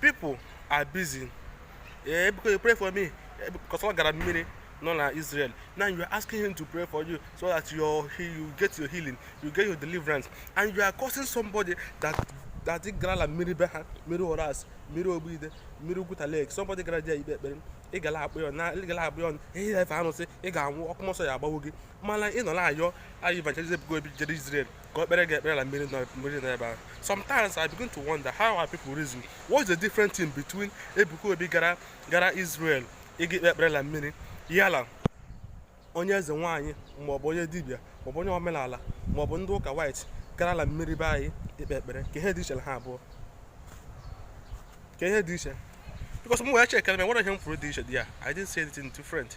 people are busy eh, because you pray for me eh, because ọ gara mmiri nọ na Israel now you are asking him to pray for you so that your you get your healing you get your deliverance and you are cursing somebody that that ị gara la mmiri be ha mmiri Ọrasị mmiri Ogbuide mmiri ugwuta lake somebody gara there ikpe ekpere ị gala akpọ ya na ị gala akpọ ya onye na-efe alụsị ị ga-anwụ ọkụ mmụọ nsọ ya agbawo gị mana ị nọ na-ayọ ayọ evangelist Ebuka Obi jere Israel ka o kpere gị ekpere na mmiri nọ- mmiri nọ ebe ahụ sometimes I begin to wonder how our people reason what is the difference in between Ebuka Obi gara gara Israel ịga ikpe ekpere na mmiri yala onye eze nwaanyị maọbụ onye dibịa maọbụ onye omenala maọbụ ndị ụka white gara na mmiri be anyị ikpe ekpere ka ihe dị iche na ha abụọ ka ihe dị iche because m wee chekere m e nwere ihe m fụrụ dị iche dị ya I didn't see anything different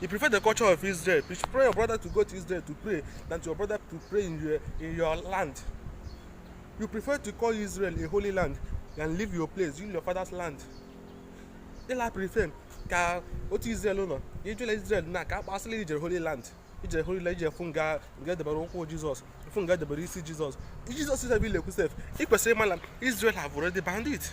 You prefer the culture of Israel. You prefer your brother to go to Israel to pray than to your brother to pray in your, in your land. You prefer to call Israel a holy land and leave your place, leave your father's land. Ịla prefer ka otu Israel nọ, i jele Israel na ka a sị la i jere holy land. ije holy land ije fụ nga nga e debere ụkwụ jizọs fụ nga e debere isi jizọs jizọs is a village sef ị kwesịrị ịma na israel have already banned it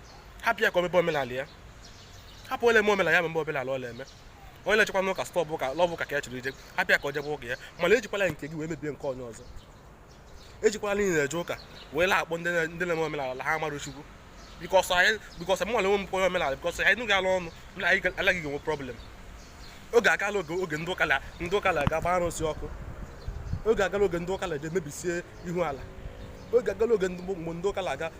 hapụ ya ka o mebe omenala ya hapụ onye le-eme omenala ya mebe omenala ọ la-eme onye na-ejekwanụ ụka sị ọ bụ ụka la ọ bụ ụka ka ya chọrọ ije hapụ ya ka o jebe ụka ya mana ejikwala nke gị wee mebie nke onye ọzọ ejikwala n'ihi ị na-eje ụka wee na-akpọ ndị na-eme omenala la ha amarọ chukwu because anyị because mụ nwere onwe m onye omenala because anyị nụ gị ya l'ọnụ na anyị la gị ga-enwe problem oge agala oge oge ndị ụka ndị ụka na-aga gba arụsị ọkụ oge agala oge ndị ụka na-eje mebisie ihu ala oge agala oge mgbe ndị ụka na-aga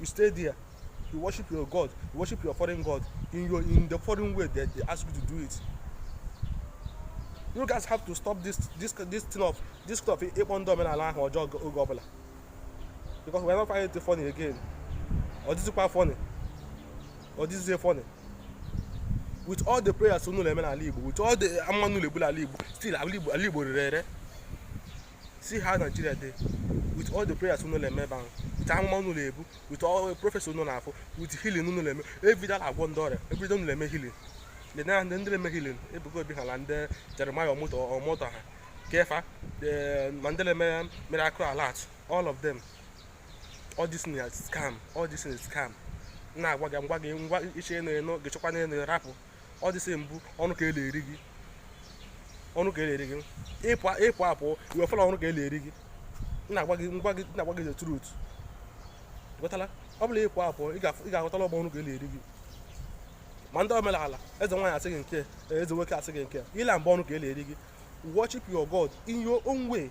you stay there you worship your god you worship your foreign god in your in the foreign way that they ask you to do it you guys have to stop this this this thing of this kind of ịkpọ ndị omenala aha ọjọọ oge ọbụla because we are not finding it funny again ọ dịzikwa funny ọ dịzie funny with all the prayers unu na-eme n'ala igbo with all the amụma unu na-ebu n'ala igbo still ala igbo ala igbo rere ere see how nigeria dey with all the prayers unu na-eme ebe ahụ with amụma unu na-ebu with all the prophets unu na-afụ with healing unu na-eme everyday na-agwọ ndị ọrịa everyday unu na-eme healing the na ndị ndị na-eme healing Ebuka Obi ha na ndị jeremiah Omoto Omoto ha kefa the ma ndị na-eme miracle alert all of them all this thing is scam all this thing is scam na-agwa gị m gwa gị ngwa iche na eno gị chọkwa na eno rapụ all the same bụ ọnụ ka e na-eri gị ọnụ ka e na-eri gị ị pụ apụ i wee fụ la ọnụ ka e na-eri gị na-agwa gị m gwa gị na-agwa gị the truth ghọtala ọ bụla ị pụ apụ ị ga-aghọta la ọ bụ ọnụ ka e na-eri gị ma ndị omenala eze nwaanyị asị gị nke eze nwoke asị gị nke ile bụ ọnụ ka e na-eri gị worship your God in your own way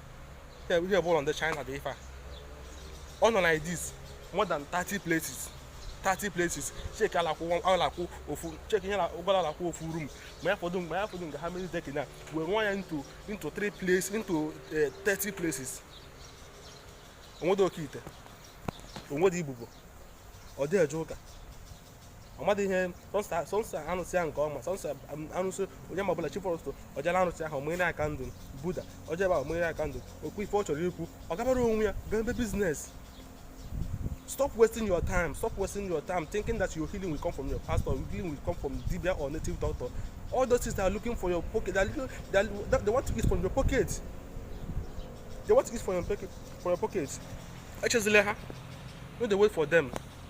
ihe bụ ụlọ ndị China dị ife a ọ nọ like this more than 30 places 30 places cheki a la-akwụ ofu cheki ego ole a la-akwụ ofu rum ma ya fọdụ ma ya fọdụ nga ha mere decking wee rụa ya into into 3 places into 30 eh, places onwede oke ite onwede ibobo ọ dị eje ụka ọ madị ihe sọnsọ alụsị ya nke ọma sọnsọ alụsị onye ma ọbụla chi foro ụtụtụ ọ jaa la alụsị ahụ ọ mụnyere ya candle Buddha ọ jaa ebe ahụ ọ mụnyere ya candle o kwuo ife ọ chọrọ ikwu ọ gabara onwe ya gaa ebe biznes stop wasting your time stop wasting your time thinking that your healing will come from your pastor your healing will come from dibia or native doctor all those things they are looking for your pocket they, are looking, they, are, they want to eat from your pocket they want to eat from your pocket from your pocket echezile ha no dey wait for them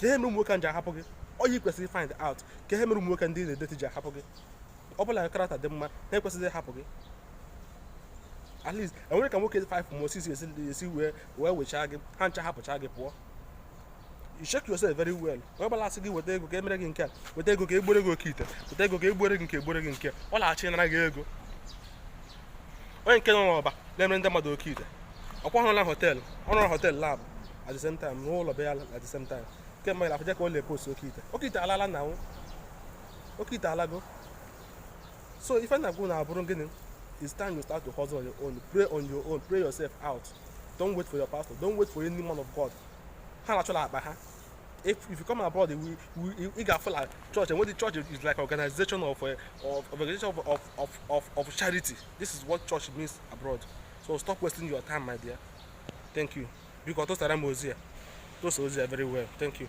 ka ihe mere ụmụ nwoke ji ahapụ gị ọ ya ị kwesịrị find out ka ihe mere ụmụ nwoke ndị na-edeti ji ahapụ gị ọ bụ la character dị mma ha ekwesịghị ịhapụ gị at least enwere ka nwoke 5 ma ọ 6 esi wee wee wechaa gị ha ncha hapụcha gị pụọ you check yourself very well onye ọbụla asị gị weta ego ka emere gị nke a weta ego ka egbore gị oke ite weta ego ka egbore gị nke egbore gị nke ọ laghachi nara gị ego onye nke nọ n'Ọba na-emere ndị mmadụ oke ite ọkwa ị hụrụ na họteelụ ọ na-arụ họteelụ laabụ at the same time rụọ ụlọ be ya at the same time nke mmadụ afụcha ka ọ na-epost oke ite oke ite alala now oke ite alago so ife m na-agwa unu bụrụ gịnị it's time you start to hustle on your own pray on your own pray yourself out don't wait for your pastor don't wait for any man of god ha na-achọla akpa ha if if you come abroad we we ị ga-afụ like church and what the church is like organization of uh, of organization of of of of of charity this is what church means abroad so stop wasting your time my dear thank you. biko tụsara m ozi a tụsa ozi a very well thank you